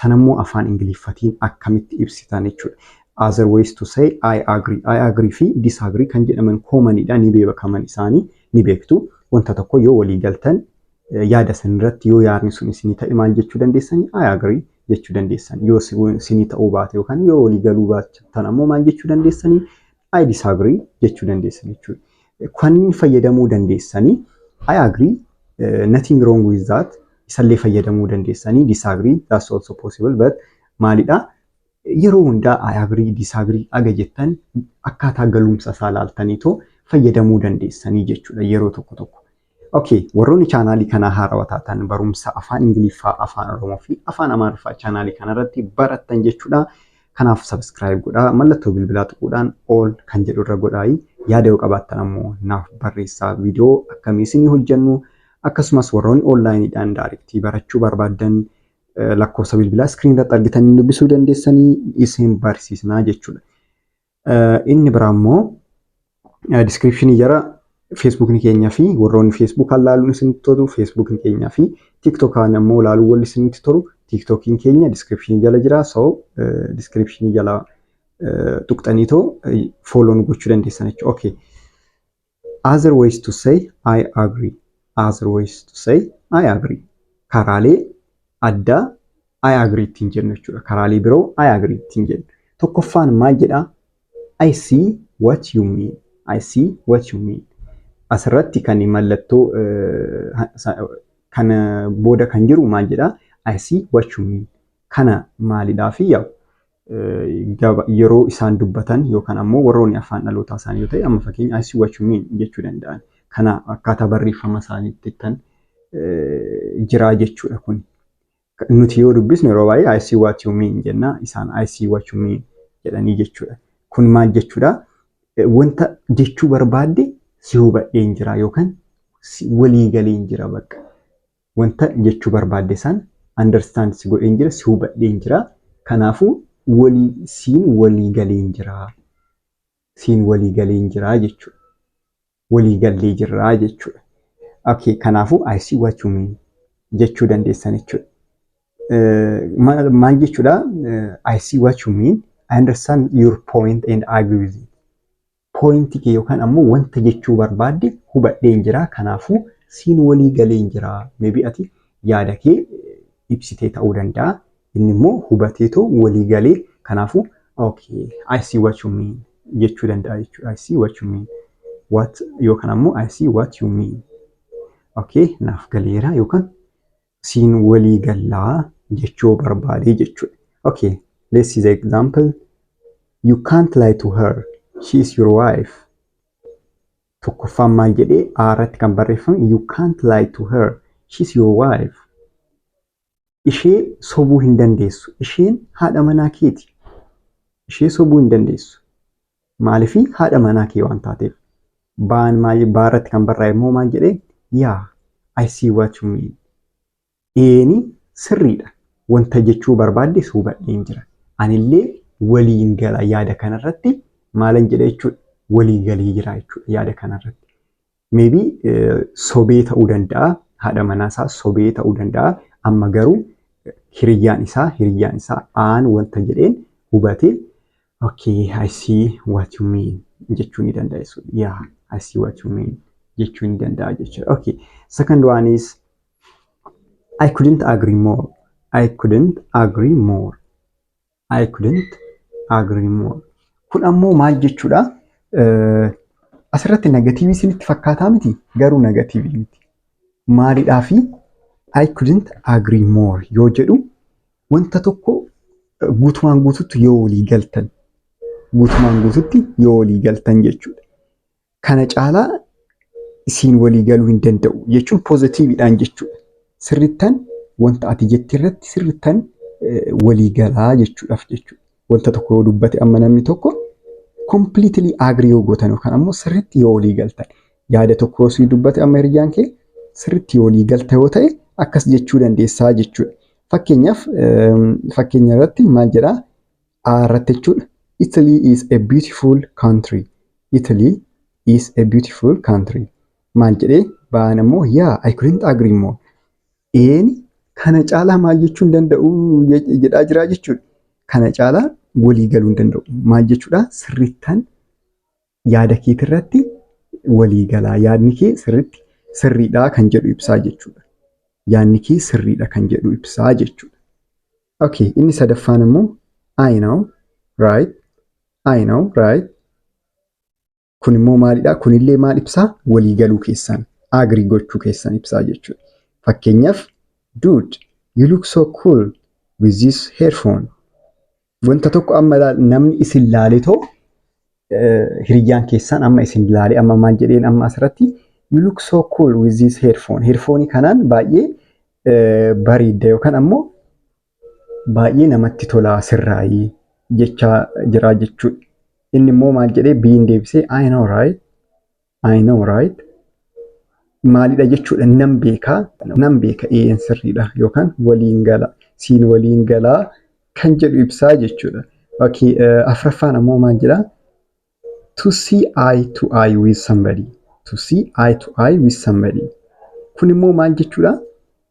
Sanammoo afaan Ingiliffatiin akkamitti ibsitan jechuudha. Other ways to say I agree. I agree fi disagree kan jedhaman koomanidha. Ni beekaman isaanii ni beektu. Wanta tokko yoo walii galtan yaada san irratti yoo yaadni sun isinii ta'e maal jechuu dandeessanii? I agree jechuu dandeessan. Yoo isinii ta'uu baate yookaan yoo walii galuu baattan ammoo maal jechuu dandeessanii? I disagree jechuu dandeessan jechuudha. Kanneen fayyadamuu dandeessanii I agree eh, nothing wrong with that isallee fayyadamuu dandeessanii disagree that's also possible but maalidha yeroo hundaa I agree disagree aga jettan akkaataa galumsa isaa laaltaniitoo fayyadamuu dandeessanii jechuudha yeroo tokko tokko. Okay, warroonni chaanaalii kanaa haarawa taatan barumsa afaan Ingiliffaa, afaan Oromoo fi afaan Amaariffaa chaanaalii kanarratti barattan jechuudha. Kanaaf subscribe godhaa, mallattoo bilbilaa tuquudhaan all kan jedhu irra godhaayi. Yaada yoo qabaattan ammoo naaf barreessaa viidiyoo akkamii isinii hojjennu akkasumas warroonni onlaayiniidhaan daarektii barachuu barbaaddan lakkoofsa bilbilaa iskiriin irratti argitanii dubbisuu dandeessanii isin barsiisnaa jechuudha. Inni biraa immoo diskiripshinii jara feesbuukni keenyaa fi warroonni feesbuukaan laaluun isinitti tolu feesbuukni keenyaa fi tiiktokaan ammoo laaluun walli isinitti tolu tiiktookiin keenya diskiripshinii jala jira so diskiripshinii jala tuqxanii too fooloo nu gochuu dandeessan jechuudha. Okay. Other ways to say I agree. Other ways to say I agree. Karaalee addaa I agree ittiin jennu jechuudha. Karaalee biroo I agree ittiin jennu. Tokkoffaan maal jedhaa? I see what you mean. I see what you mean. Asirratti kan mallattoo eh, sa- kan booda kan jiru maal jedhaa? I see what you mean. Kana maalidhaa fi yaa'u? yeroo isaan dubbatan yookaan ammoo warroonni afaan dhalootaa isaanii yoo ta'e amma fakkeenya I see what you mean jechuu danda'an. Kana akkaataa barreeffama isaaniitti kan jiraa jechuudha kun. Nuti yoo dubbisnu yeroo baay'ee I see what you mean jenna isaan I see what you mean jedhanii jechuudha. Kun maal jechuudha? Wanta jechuu barbaadde si hubadheen jira yookaan walii galeen jira bakka. Wanta ati jechuu barbaadde san understand si godheen jira, si hubadheen jira. Kanaafuu walii siin walii galeen jira. Siin walii galeen jira jechuudha. Walii gallee jirra jechuudha. Okay, kanaafuu I see what you mean jechuu dandeessan jechuudha. Maal maal jechuudha? I see what you mean, I understand your point and I agree with it. Point kee yookaan ammoo wanta jechuu barbaadde hubadheen jira. Kanaafuu siin walii galeen jira. Maybe ati yaada kee ibsitee ta'uu danda'a. Inni immoo hubatee too walii galee kanaafuu okay I see what you mean jechuu danda'a jechuudha. I see what you mean. What yookaan ammoo I see what you mean. Okay naaf galeera yookaan siin walii gallaa jechuu barbaadee jechuudha. Okay, let's see the example. You can't lie to her. She is your wife. Tokkoffaan maal jedhee A irratti kan barreeffame you can't lie to her. She is your wife. Ishee sobuu hin dandeessu. Isheen haadha manaa keeti. Ishee sobuu hin dandeessu. Maalifi haadha manaa kee waan taateef. Baan maal baa irratti kan barraa'e immoo maal jedhee yaa I see what you mean. Eeni sirriidha wanta jechuu barbaadde si hubadheen jira. Anillee waliin gala yaada kanarratti maalan jedha jechuudha walii galee jira jechuudha yaada kanarratti. Maybe sobee ta'uu danda'a. Haadha manaa isaa sobee ta'uu danda'a. Amma garuu hiriyyaan isaa hiriyyaan isaa aan wanta jedheen hubate okay I see what you mean jechuu ni danda'a jechuudha. Yeah I see what you mean jechuu ni danda'a jechuudha. Okay second one is I couldn't agree more. I couldn't agree more. I couldn't agree more. Kun ammoo maal jechuudha? Asirratti negatiivii isinitti fakkaataa miti garuu negatiivii miti. Maalidhaa fi I couldn't agree more yoo jedhu wanta tokko guutumaan guututti yoo walii galtan guutumaan guututti yoo walii galtan jechuudha. kana caalaa isiin walii galuu hin danda'u jechuun poozitiividhaan jechuudha. Sirrittan wanta ati jette irratti sirrittan walii galaa jechuudhaaf jechuudha. Wanta tokko yoo dubbate amma namni tokko completely agree yoo gootan yookaan ammoo sirritti yoo walii galtan yaada tokko yoo sii dubbate amma hiriyaan kee sirritti yoo walii galta yoo ta'e akkas jechuu dandeessaa jechuudha. Fakkeenyaaf fakkeenya irratti maal jedhaa A irratti jechuudha. Italy is a beautiful country. Italy is a beautiful country. Maal jedhee ba'aan ammoo yaa I couldn't agree more. Een kana caalaa maal jechuu hin danda'u je- jedhaa jiraa jechuudha. Kana caalaa walii galuu hin danda'u. Maal jechuudha sirrittan yaada keetirratti walii galaa yaadni kee sirriitti sirriidha kan jedhu ibsaa jechuudha. Yaadni kee sirriidha kan jedhu ibsaa jechuudha. Okay, inni sadaffaan immoo I know, right, I know, right. Kun immoo maalidha? Kunillee maal ibsaa? Walii galuu keessan, agree gochuu keessan ibsaa jechuudha. Fakkeenyaaf, dude, you look so cool with this headphone. Wanta tokko amma ilaal- namni isin laalee too eh, hiriyyaan keessaan amma isin laalee amma maal jedheen amma asirratti you look so cool with this headphone. Headphone kanaan baay'ee eh, bareedda yookaan ammoo baay'ee namatti tolaa sirraayii jechaa jiraa jechuudha. Inni immoo maal jedhee biin deebisee I know right I know right maalidha jechuudha nan beeka nan beeka eeyyeen sirriidha yookaan waliin gala siin waliin galaa kan jedhu ibsaa jechuudha. Okay, uh, afraffaan ammoo maal jedha? To see eye to eye with somebody. To see eye to eye with somebody. Kun immoo maal jechuudha?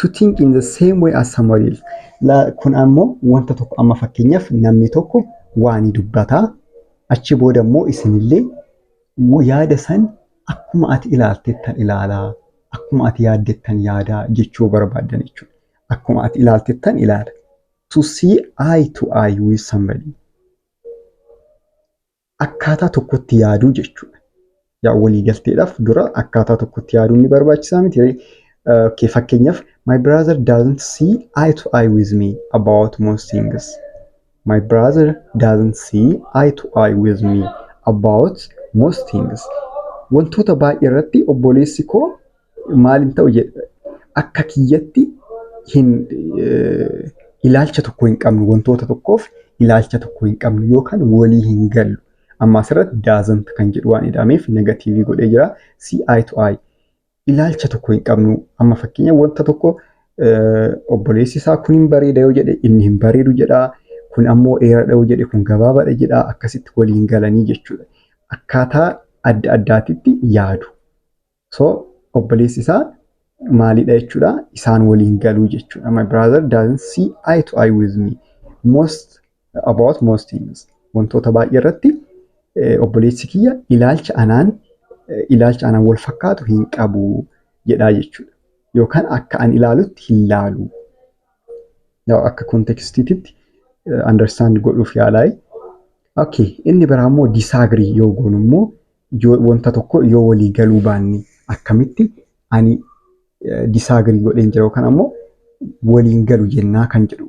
To think in the same way as somebody else. La, kun ammoo wanta tokko amma fakkeenyaaf namni tokko waa ni dubbata. Achi booda immoo isinillee yaada san akkuma ati ilaaltettan ilaalaa, akkuma ati yaaddettan yaadaa jechuu yoo barbaaddan jechuudha. Akkuma ati ilaaltettan ilaala. To see eye to eye with somebody. Akkaataa tokkotti yaaduu jechuudha. Yaa waliigalteedhaaf dura akkaataa tokkotti yaaduun ni barbaachisaa miti. Okay, fakkeenyaaf my brother doesn't see eye to eye with me about most things. My brother doesn't see eye to eye with me about most things. Wantoota baay'ee irratti obboleessi koo maal hin ta'u jedhe akka kiyyatti hin eh, ilaalcha tokko hin qabnu wantoota tokkoof ilaalcha tokko hin qabnu yookaan walii hin gallu. Amma asirratti doesn't kan jedhu waan ida'ameef negatiivii godhee jira. See eye to eye. ilaalcha tokko hin qabnu. Amma fakkeenya wanta tokko obboleessi isaa kun hin bareeda yoo jedhe inni hin bareedu jedha. Kun ammoo dheeradha yoo jedhe kun gabaabaadha jedha. Akkasitti waliin galanii jechuudha. Akkaataa adda addaatitti yaadu. So obboleessi isaa maalidha jechuudha. Isaan waliin galuu jechuudha. My brother doesn't see eye to eye with me. Most about most things wantoota baay'ee irratti obboleessi kiyya ilaalcha anaan ilaalcha anaan wal fakkaatu hin qabu jedhaa jechuudha. Yookaan akka an ilaalutti hin laalu. Akka kontekstiititti understand godhuuf yaalaa. Okay, inni biraa immoo disagree yoo goonu immoo yoo wanta tokko yoo walii galuu baanne akkamitti ani disagree godheen jira yookaan ammoo waliin galu jennaa kan jedhu